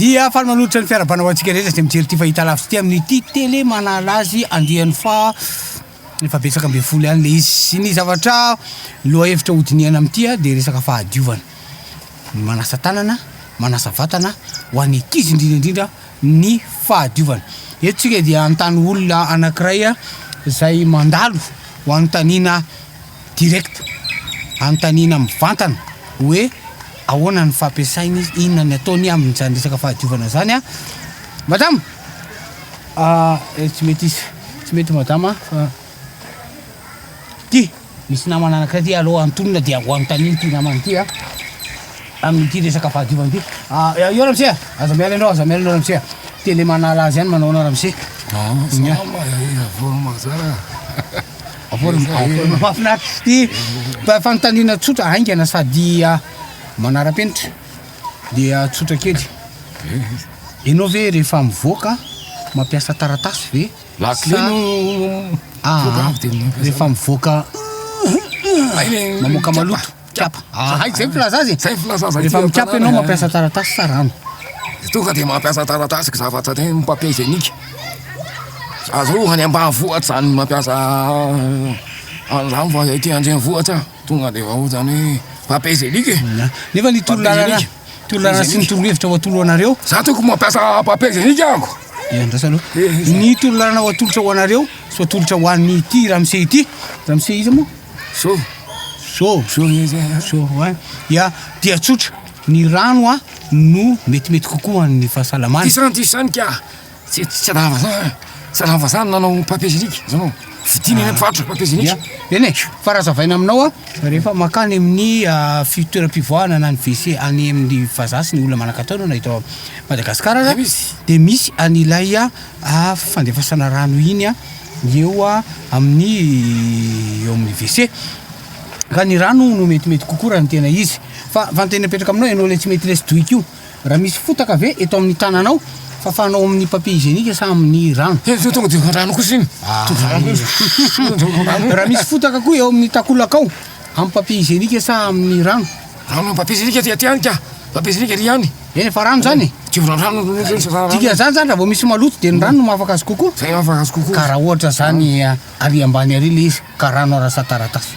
Dia faly manolotra ny fiarahabana ho antsika rehetra izay mijery ity fahita lavitra ity amin'ity tele manala azy andiany fa efa betsaka ambin'ny folo ihany le izy. Sy ny zavatra lohahevitra hodinihana amin'ity dia resaka fahadiovana. Ny manasa tanana, manasa vatana ho an'ny ankizy indrindra indrindra. ny fahadiovana. Eto tsika dia anontany olona anankiray izay mandalo ho anontaniana direct, anontaniana mivantana hoe ahoana ny fampiasainy izy, inona ny ataony amin'izany resaka fahadiovana izany. Madama, ah, eh, tsy mety izy, tsy mety madama, ah, ty. Misy namana anankiray ity aleo antonina dia ho anontaniana ity namana ity a amin'ity resaka fahadiovana ity. Ah, eh, io ramose, aza miala enao, aza miala enao ramose. Tele manala azy ihany manao anao ramose. Ah, nya. Avory mazara. Avory mahafinaritra ity. Fa fanontaniana tsotra haingana sady ah, manara-penitra. Dia ah, tsotra kely. Enao ve rehefa mivoaka mampiasa taratasy ve? Lakile no mivoaka avy dia mamoaka zao. Rehefa mivoaka mamoaka maloto. Mikapa. Hay zay filaza azy. Zay filaza azy. Rehefa mikapa ianao mampiasa taratasy sa rano? Tonga dia mampiasa taratasy zavatra tena ny papier hygiénique. Aza hoe any ambanivohitra zany mampiasa an'izany fa aty an-drenivohitra. Tonga de efa otrany hoe papier genique e! Nefa ny torolalana, torolalana sy ny torohevitra ho atolo anareo. Za tokony mampiasa papier genique amiko. Dia andraso aloha. Ny torolalana ho atolotra ho anareo sy ho atolotra ho an'ny ity ramose ity. Ramose iza moa? So. So. So izy. So wa. Ya, dia tsotra. Ny rano a no metimety kokoa ho an'ny fahasalamana. Disan-disanika. Tsy tsy tsy raha vazaha eh. Tsy raha vazaha ny nanao papier génique, zao no vidiana eny mpivarotra papier Ya, génique. eny e, fa raha hazavaina aminao an, rehefa mankany amin'ny ah, fi- toeram-pivoahana na ny WC any amin'ny vazaha sy ny olona manan-katao na eto Madagasikara aza, Aiza izy? dia misy an'ilay ah, ah, fandefasana rano iny an, eo ah, amin'ny eo amin'ny WC. Ka ny rano no metimety kokoa raha ny tena izy. Fa fa ny tena mipetraka aminao ianao ilay tsy mety lesy doika io. Raha misy fotaka ve eto amin'ny tananao fafanao amin'ny papier hygiénique sa amin'ny rano? He, zao tonga dia efa an-drano kosa iny. Ah, Tonga an-drano kosa. Tonga dia efa an-drano. Raha misy fotaka koa eo amin'ny takolakao, amin'ny papier hygiénique sa amin'ny rano? Rano amin'ny papier hygiénique aty aty ihany ka. Papier hygiénique ery ihany. Eny, efa rano izany e. Tsy mbola rano ny rano. Zany Dikan'izany izany raha vao misy maloto dia ny rano no mahafaka azy kokoa. Zay mahafaka azy kokoa. Ka raha ohatra izany, ary ambany ary ilay izy ka rano arasataratasy.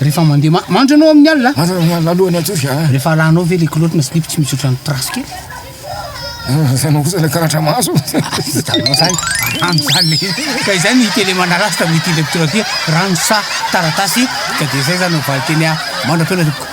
Rehefa mandeha ma- mandry ianao amin'ny alina? Mandry amin'ny alina alohan'ny hatory a. Rehefa alanao ve ilay kilaoty na slip tsy misy ohatran'ny trace kely? Ianao kosa ilay karatra maso. Vitanao izany, rano izany le. Ka izay no hita eny Manarasy tamin'ny ity lecture ty, rano sa taratasy? Ka dia izay izany no valin-teny mandra-pihaona tompoko.